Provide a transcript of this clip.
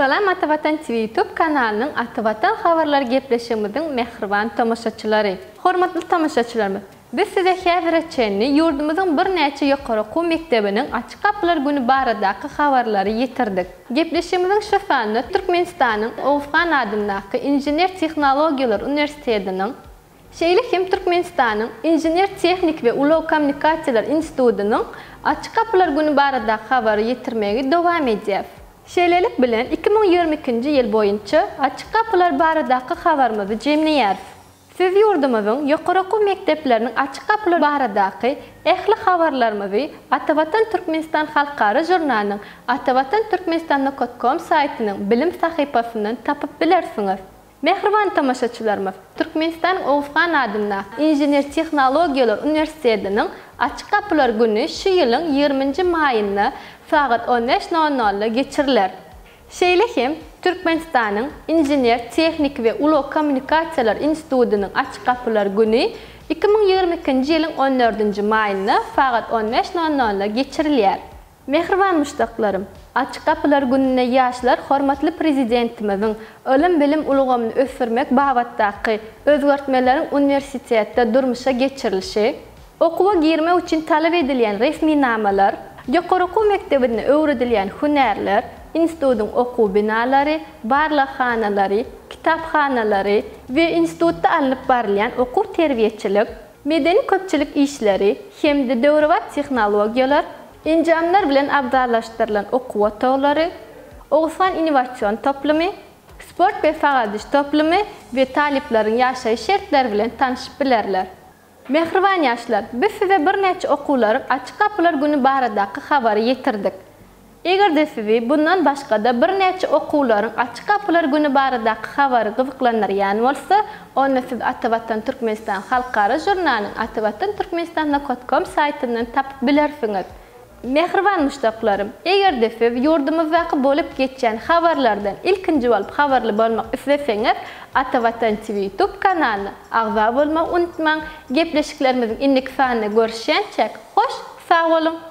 Salam Ata Watan TV YouTube kanalynyň Ata Watan habarlary gepleşigimiziň mähriban tomaşaçylary! Hormatly tomaşaçylarymyz! Biz size häzire çenli ýurdumyzyň birnäçe ýokary okuw mekdebiniň Açyk gapylar güni baradaky habarlary ýetirdik. Gepleşigimiziň şu sanynda Türkmenistanyň Oguzhan adyndaky Inžener-tehnologiýalar uniwersitetiniň, Şeýle hem Türkmenistanyň Inžener-tehniki we ulag kommunikasiýalar institutynyň Açyk gapylar güni baradaky habary ýetirmegi dowam edýäs. Şeýlelik bilen, iki müň ýigrimi ikinji ýyl boýunça Açyk gapylar baradaky habarymyzy jemleýäris. Siz ýurdumyzyň ýokary okuw mekdepleriniň Açyk gapylar baradaky ähli habarlarymyzy Atavatan Türkmenistan halkara žurnalynyň Atavatan Türkmenistan Nokot Kom saýtynyň bilim sahypasyndan tapyp bilersiňiz. Mähriban tomaşaçylarymyz, Türkmenistanyň Oguz han adyndaky Inžener-tehnologiýalar uniwersitetiniň Açyk gapylar güni şu ýylyň ýigriminji maýynda sagat on bäş nol nolda geçiriler. Şeýle hem Türkmenistanyň Inžener-tehniki we ulag kommunikasiýalar institutynyň Açyk gapylar güni iki müň ýigrimi ikinji ýylyň on dördünji maýynda sagat on bäş nol nolda geçirilýär. Mähriban muşdaklarym! Açyk gapylar gününde ýaşlar hormatly Prezidentimiziň ylym-bilim ulgamyny ösdürmek babatdaky özgertmeleriň uniwersitetde durmuşa geçirilişi, okuwa girmek üçin talap edilýän resminamalar, ýokary okuw mekdebinde öwredilýän hünärler, institutyň okuw binalary, barlaghanalary, kitaphanalary we institutda alnyp barylýan okuw-terbiýeçilik, medeni-köpçülik işleri hem-de döwrebap tehnologiýalar, enjamlar bilen abzallaşdyrylan okuw otaglary, Oguzhan innowasion toplumy, sport we sagaldyş toplumy we talyplaryň ýaşaýyş şertleri bilen tanşyp bilerler. Mähriban ýaşlar, biz size birnäçe okuwlaryň Açyk gapylar güni baradaky habary ýetirdik. Eger-de sizi bundan başga-da birnäçe okuwlaryň Açyk gapylar güni baradaky habary gyzyklandyrýan bolsa, onda siz Atavatan Türkmenistan halkara žurnalyny atavatanturkmenistanlakotkom saýtyndan tapyp bilersiňiz. Mähriban muşdaklarym, eger-de siz ýurdumyzdaky bolup geçýän habarlardan ilkinji bolup habarly bolmak isleseňiz, Atavatan TV YouTube kanalyna agza bolmagy unutmaň. Gepleşiklerimiziň indiki sanynda görüşýänçäk, hoş sag boluň!